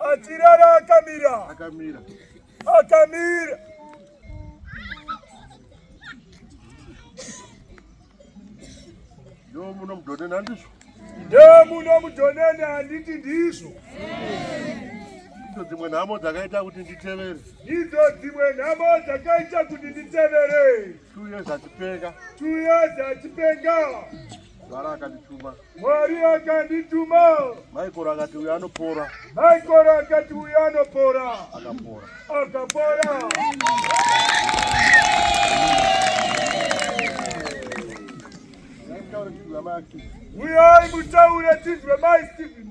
Achirara akamira. Akamira. Akamira. Ndo muno mudonene handizvo. Ndo muno mudonene handiti ndizvo. Ndidzo dzimwe nhamo dzakaita kuti nditevere. Ndidzo dzimwe nhamo dzakaita kuti nditevere. Two years achipenga. Two years achipenga. Sara akandituma. Mwari akandituma. Michael akati uyo anopora. Michael akati uyo anopora. Akapora. Akapora. Uyai mutaure tinzwe mai Stephen.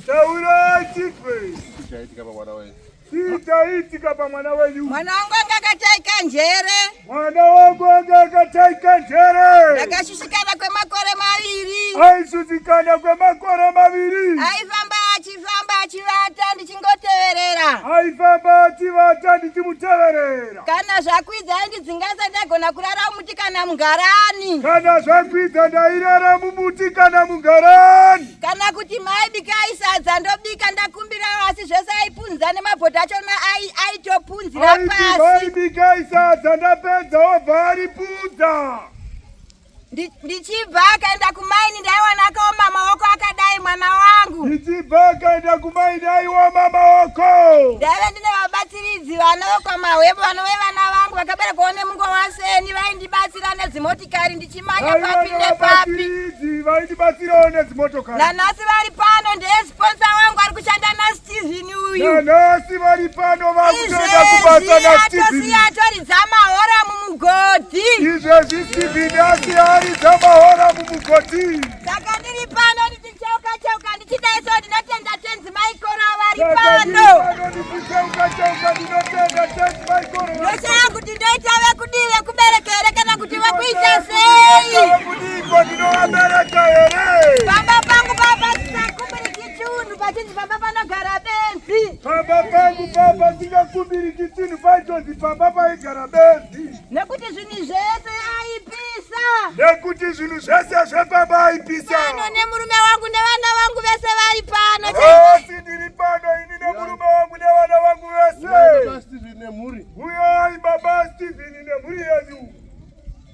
Taurai chipei. Chichaitika pamwana wenyu. Chichaitika pamwana wenyu. Mwana wangu anga akataika njere. Mwana wangu anga akataika njere. Ndakashushikana kwemakore maviri. Aishushikana kwemakore maviri. Aifamba Famba achivata ndichingoteverera. Aifamba achivata ndichimuteverera. Kana zvakwidza aindidzinga ndagona kurara mumuti kana mungarani. Kana zvakwidza ndairara mumuti kana mungarani. Kana kuti mai bika aisadza ndobika ndakumbira asi zvese aipunza nemabhodha achona aitopunzira pasi. Aiti mai bika aisadza ndapedza obva aripunza. ndichibva akaenda kumaini ndaiwana akaoma maoko akadai mwana wangu ndichibva akaenda kumaini aioma maoko ndaive ndine vabatsiridzi vanokwa mahwebo vanove vana vangu vakaberekwawo nemungo waseni vaindibatsira nedzimotikari ndichimanya papi nepapi vaindibatsirawo nedzimotokari nanhasi vari pano ndeye sponsa wangu ari kushanda nasi Steven uyu. Nanasi vari pano vakutoda kubasa na Steven. Izvezvi atoridza mahora mumugodhi. Izvezvi Steven asi aridza mahora mumugodhi. Saka ndiri pano ndichicheuka cheuka ndichidaiso ndinotenda tenzi maikoro vari pano. Ndichicheuka cheuka ndinotenda tenzi maikoro. Ndoshaya kuti ndoita vekudii vekubereka here kana kuti vekuita sei? Vekudii ko ndinovabereka here? Baba Chiunhu pachinzi pamba panogara benzi. Pamba pangu pamba singakumbiri chitini paitonzi pamba paigara benzi. Nekuti zvinhu zvese aipisa. Nekuti zvinhu zvese zvepamba aipisa. Pano nemurume wangu nevana vangu vese vari pano. Asi ndiri pano ini nemurume wangu nevana vangu vese. Uyo aiba baba Steven nemhuri yenyu.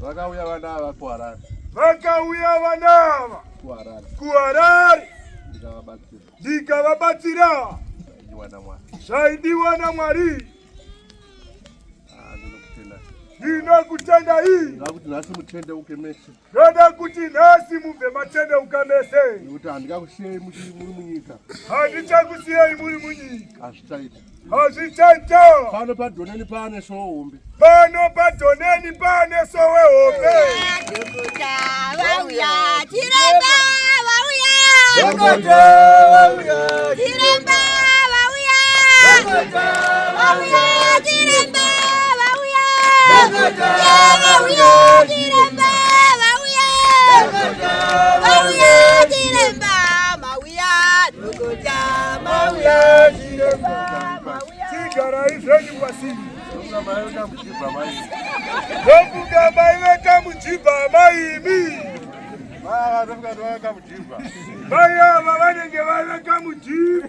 Vakauya vana ava kuHarare. Vakauya vana ava kuHarare. KuHarare. Ndikavabatsira. Ndikavabatsira. Zvaidiwa naMwari. Zvaidiwa naMwari. Ah, ndinokutenda. Ndinokutenda hii. Ndakuti nhasi mutendeuke mese. Ndoda kuti nhasi mubve matendeuka mese. Nekuti handikakusiyei muri munyika. Handichakusiyei muri munyika. Hazvichaita. Hazvichaita. Pano padhoneni pane sowe hombe. Pano padhoneni pane sowe hombe. Dhokota vauya chiremba vauya. Dhokota vauya chiremba vauya. Dhokota vauya chiremba. Ndofunga mai veka mujibha amaimi mai ava vanenge vaveka mujibha